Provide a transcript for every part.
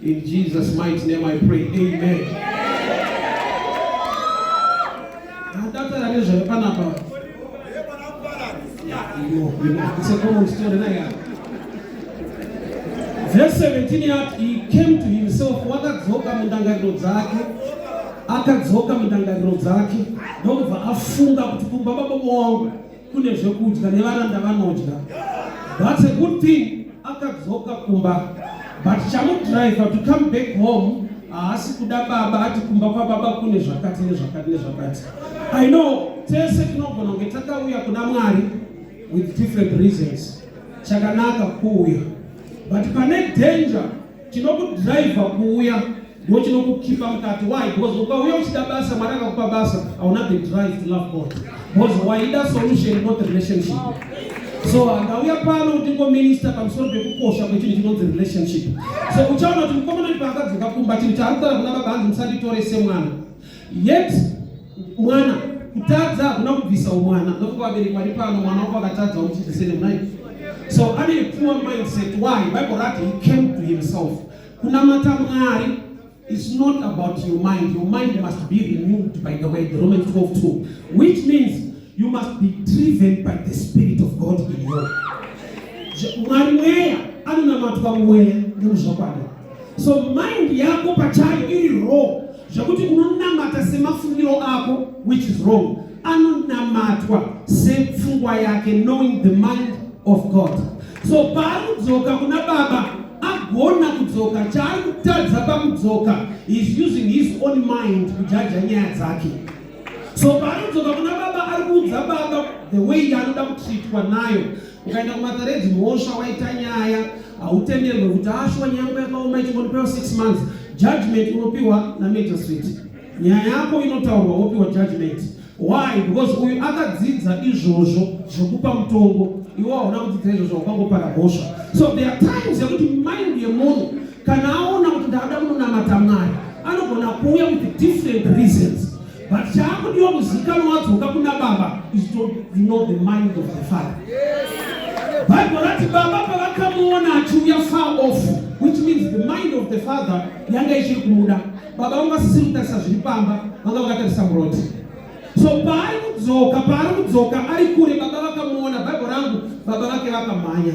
In Jesus mighty name I pray. Amen. Adatara nezvayo panapa. It's a common story na ya. Verse 17 yati he came to himself wakadzoka mundangariro dzake akadzoka mundangariro dzake ndokubva afunga kuti kumba baba wangu kune zvekudya nevaranda vanodya but a good thing akadzoka kumba but chamudriver to come back home haasi kuda baba ati kumba kwababa kune zvakati nezvakati nezvakati i know tese tinogona kunge takauya kuna mwari with different reasons chakanaka kuuya but pane danger Tinokudriver kuuya ndiwo chinokukipa mukati why because ukauya uchida basa mwari akakupa basa hauna the drive to love god because waida solution not relationship so handauya pano kuti ngominista pamusoro pekukosha kwechinhu chinonzi relationship so uchaona kuti mukomana kuti paakadzoka kumba chinhu chaari kutara kuna baba hanzi musanditore semwana Yet mwana kutadza hakuna kubvisa umwana nokuti vabereki vari pano mwana wako akatadza uchidzisene mnai so ane poor mindset why bible rati he came to himself kunamata mwari is not about your mind your mind must be renewed by the way the roman 12 2 which means you must be driven by the spirit of god in you mwari mweya anonamatwa mweya nemuzvakwadi so mind yako pachayo iri wrong zvekuti unonamata semafungiro ako which is wrong anonamatwa sepfungwa yake knowing the mind of god so paanodzoka kuna baba agona kudzoka chaari kutadza pakudzoka is using his own mind kujaja nyaya dzake so paanodzoka kuna baba ari kuudza baba the way yaanoda kutritwa nayo ukaenda kumataredi mhosva waita nyaya hautenderwe kuti ashuwa nyaya yako yakaoma ichingonopewa 6 months judgment unopiwa namagistrate nyaya yako inotaurwa wopiwa judgment why because uyu akadzidza izvozvo zvekupa mutongo iwe hauna kudzidza izvozvo wakangopara mhosva so there are times yekuti mind yemunhu kana aona kuti ndaada kunonamata mwari anogona kuuya with different reasons But chaakudiwa kuzikanwa wadzoka kuna baba is to know the mind of the father. Bible rati baba pavakamuona achiuya far off which means the mind of the father yanga ichiri kumuda. Baba vanga vasisiri kutarisa zviri pamba vanga vakatarisa muroti. So paari kudzoka paari kudzoka ari kure baba vakamuona Bible rangu baba vake vakamhanya.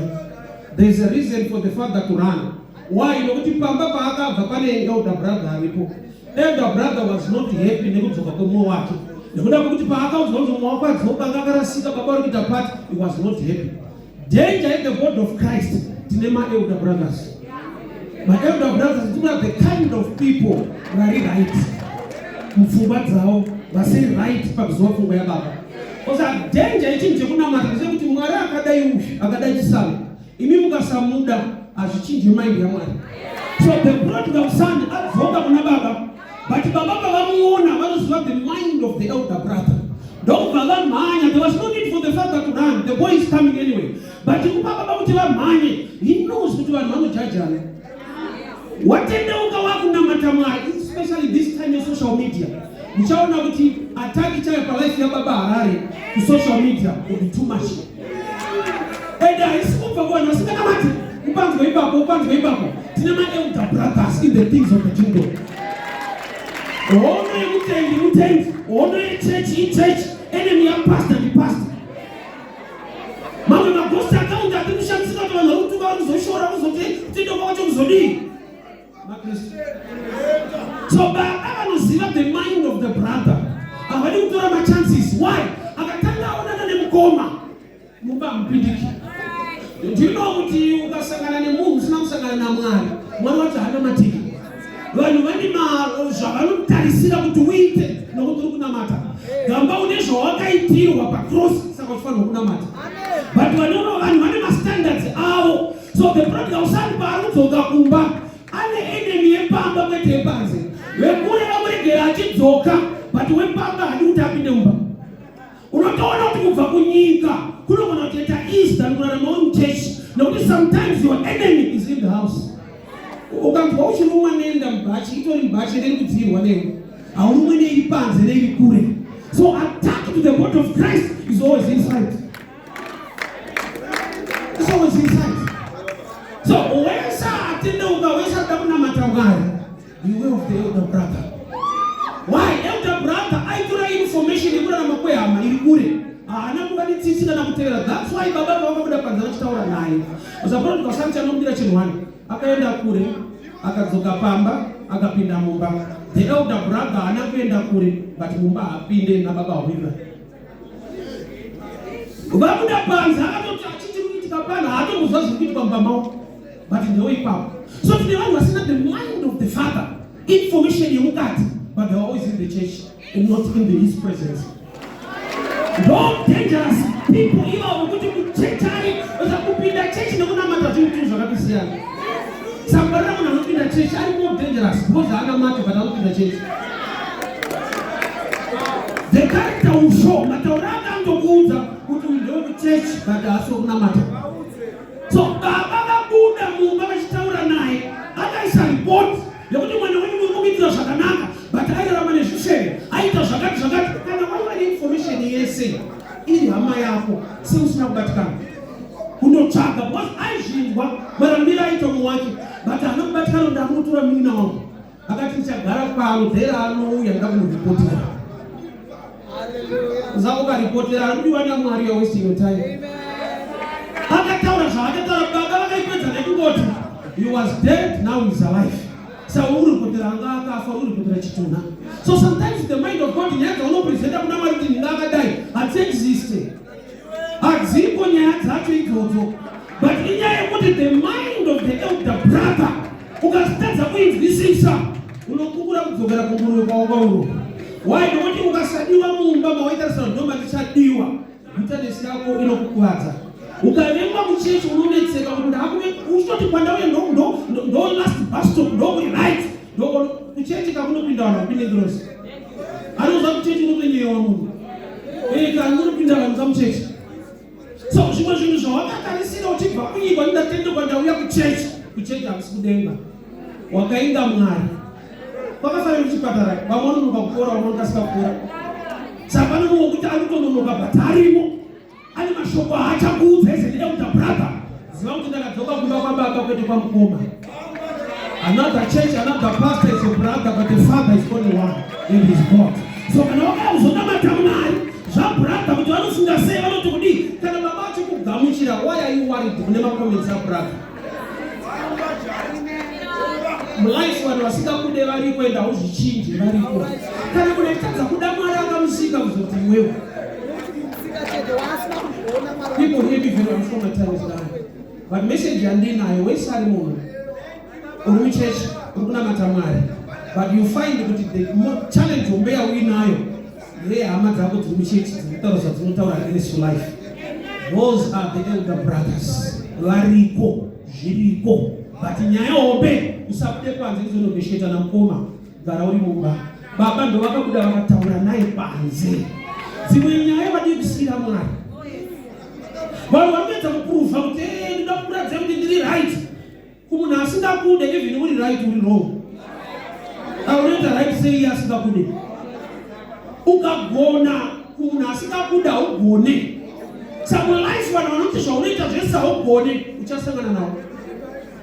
There is a reason for the father to run. Why? Nokuti pamba paakabva pane elder brother aripo. Elder brother was not happy nekudzoka kwemumwe wake. Nekuda kwekuti paakaudzwa kuti mumwe wako adzoka anga akarasika baba vari kuita part, he was not happy. Danger in the body of Christ tine ma elder brothers. My elder brothers do not the kind of people vari right. Mupfungwa dzavo vasiri right pakuziva pfungwa yababa. Kosa danger ichinje kunamata ndechekuti Mwari akadai uyu akadai chisamu. Imi mukasamuda hazvichinje mind yaMwari. So the prodigal son adzoka kuna baba but baba pavamuona vanoziva the mind of the elder brother ndokubva vamhanya there was no need for the father to run the boy is coming anyway but kupa baba kuti vamhanye he knows kuti vanhu vanojajana watendeuka wakunamata mwari especially this time yesocial media uchaona kuti ataki chayo palife yababa harare kusocial media kuti too much and haisi kubva kuvanhu vasinganamati upanzwa ipapo upanzwa ipapo tine maelder brothers in the things of the kingdom hono yemutendi mutendi hono yechechi ichechi enemy yapastor ndipastor Mamwe maghost account ati kushandisika kuti vanhu vakutuka vakuzoshora kuzoti tidoka wacho kuzodii? MaKristu. So baba vanoziva the mind of the brother. Havadi kutora ma chances. Why? Akatanga aonana nemukoma. Mumba hamupindiki. Ndino kuti ukasangana nemunhu usina kusangana naMwari. Mwari wacho hana matiki. vanhu vane zvavanotarisira kuti uite nokuti uri kunamata gamba une zvawakaitirwa pacross saka uchifanirwa kunamata but vanoro vanhu vane mastandards avo so the problem ausani paari kudzoka kumba ane enemy yepamba kwete yepanze vekure vamuregera achidzoka but wepamba hadi kuti apinde mumba Unotoona kuti kubva kunyika kunogona kutoita easy than kurarama uri muchechi nekuti sometimes your enemy is in the house. Ukanzwa uchirumwa nenda mubhachi itori mubhachi ende kudziirwa newe haurumwe neiri panze neiri kure so attack to the body of Christ is always inside. It's always inside. So wesa atendeuka wesa ada kunamata Mwari Beware of the elder brother. Why? Elder brother aitora information yekurarama kwehama iri kure. Haana kuva netsitsi kana kutevera. That's why baba pavakabuda panze vachitaura naye. Usaproti kwasanti anobira chinhu wani. Akaenda kure, akadzoka pamba, akapinda mumba. The elder brother haana kuenda kure, but mumba haapinde nababa hwira. Vabuda panze akatoti achiti kuitika pano haatomuziva zviri kuitika mumba mavo. but ndoipapo so tine vanhu vasina the mind of the father information yemukati but they are always in the church and not in the, his presence no dangerous people ivavo kuti muchechi ari kupinda chechi nekunamata zvinhu tunu zvakatisiyana sambarira munhu anopinda chechi ari more dangerous because anamata but anopinda chechi the character will show mataura akandokuudza kuti uyu ndewekuchechi but haasi wekunamata So baba vabuda mumba vachitaura naye vakaisa report yekuti mwana wenyu muri kumuitira zvakanaka but airarama nezvishere aita zvakati zvakati kana waiva neinformation yese iri hama yako seusina kubatikana kunotsvaga because aizvinzwa marambira aita muwake but hana kubatikana ndamunotora munin'ina wangu Akati chagara pano dhera anouya ndakumuripotera. Zako karipotera anodiwa naMwari you're wasting your time. Akataura zvaakataura baba vakaipedza nekungoti he was dead now he's alive. Sauri kutira anga akafa uri kutira chituna. So sometimes the mind of God nyaya dzaunopresenta kuna Mwari kuti ndinga akadai hadziexisti. Hadzipo nyaya dzacho idzodzo. But inyaya yekuti the mind of the elder brother ukazitadza kuinzwisisa unokukura kudzokera kumurume kwawauro. Why? Nokuti ukasadiwa mumba mawaita sanoma ndichadiwa. Bitterness yako inokukuvadza. Ukavengwa muchechi unonetseka kuti ndakuve uchitoti kwandauya ndo ndo ndo last bus stop ndo kuri right. Ndoko kuchechi kakunopinda vanhu vapinde ngirozi. Anoza kuchechi unotonyewa munhu. Eh kana unopinda vanhu kamuchechi. So zvimwe zvinhu zvawakatarisira uchibva kunyika ndatende kwandauya kuchechi. Kuchechi hakusi kudenga. Wakainda Mwari. Kwakafanira kuchipatara vamwe vanonoka kupora vamwe vanokasika kupora. Saka panonokuti anotononoka bhatarimo. Ane mashoko haachakuudza as an elder brother. Ziva kuti ndakadzoka kumba kwababa kwete kwamukoma. Another church, another pastor is a brother, but the father is only one in his God. So kana wakauzonamata Mwari, zvabrother kuti vanofunga sei, vanoti kudii, kana baba vacho kugamuchira, why are you worried kune makomenzi abrother? mulife vanhu vasingakude variko enda uzvichinje variko kana kune kutadza kuda mwari akamusika kuzoti mwewo people here be very informal times now but message yandinayo wese ari munhu uri muchurch uri kunamata mwari but you find kuti the challenge hombe yauinayo Hey, hama dzako dziri muchechi dzinotaura zvadzinotaura resu life those are the elder brothers variko zviriko but nyaya hombe usabude panze izonobesheta namukoma gara uri mumba baba ndo vakabuda vakataura naye panze dzimwe nyaya vadii kusiyira mwari vanhu vanoedza kupruvha kuti eh, ndoda kuratidza kuti ndiri right kumunhu asingakude even uri right uri wrong aunoita right sei iye asingakude ukagona kumunhu asingakude haugone samwe life vanhu vanoti zvaunoita zvese haugone uchasangana nawo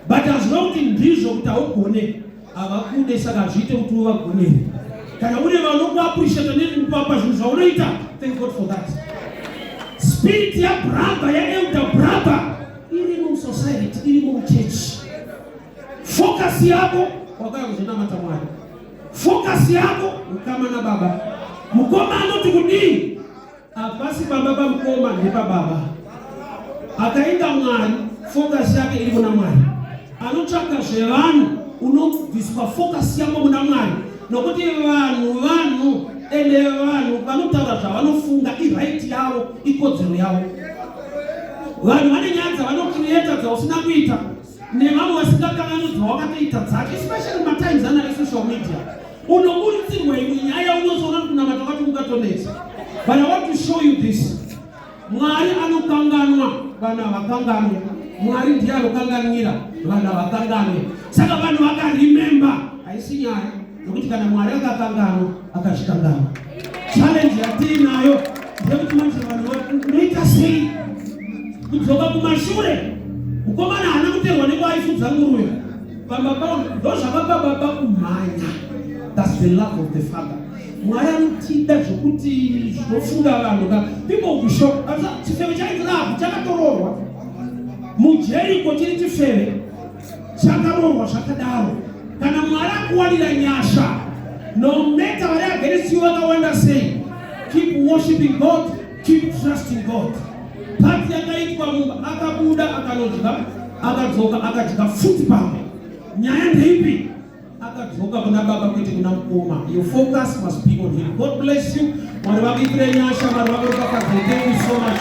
but hazvina kuti ndizvo kuti haugone havakude saka hazviite kuti uvagonere kana une vanokuappreciata nekukuvapa zvinhu zvaunoita thank god for that spirit yabraba yaelder braba iri musociety iri muchurch focus yako wakaya kuzonamata mwari focus yako ukama na baba mukoma anoti kudii Hapasi baba pamukoma nepababa. Akaita Mwari, focus yake iri kuna Mwari. Anotsvaka zvevanhu, unobviswa focus yako kuna Mwari. Nokuti vanhu vanhu ende vanhu vanotaura zvavanofunga iright yavo, ikodzero yavo. Vanhu vane nyaya dzavanokiriyeta dzausina kuita. nevamwe vasingakanganudzwa wakatoita dzake especially matimes ana vesocial media unoburitsirwa imwe nyaya unozoona kuti kunamata kwati kungatonetsa but i want to show you this mwari anokanganwa vanhu havakanganwe mwari ndiye anokanganwira vanhu havakanganwe saka vanhu vakarememba haisi nyaya Nokuti kana Mwari akakanganwa, akazvikanganwa. Challenge yatiinayo ndeyekuti manje vanhu vanoita sei kudzoka kumashure. Mukomana haana kuterwa nekuaifudza nguruve pamba pavo, ndozvakapa baba kumhanya. That's the love of the father. Mwari anotida zvokuti zvinofunga vanhu ka people be shocked. Chifeve chainzi Rahabhi chakatoroorwa mujeriko chiri chifeve chakarohwa zvakadaro kana mwari akuwanira nyasha no matter vari against you vakawanda sei keep worshiping god keep trusting god pati yakaitwa munhu akabuda akanodya akadzoka akadya futi pamwe nyaya ndeipi akadzoka kuna baba kwete kuna mukoma your focus must be on him god bless you mwari vakuitire nyasha mwari vakuropafadze thank you so much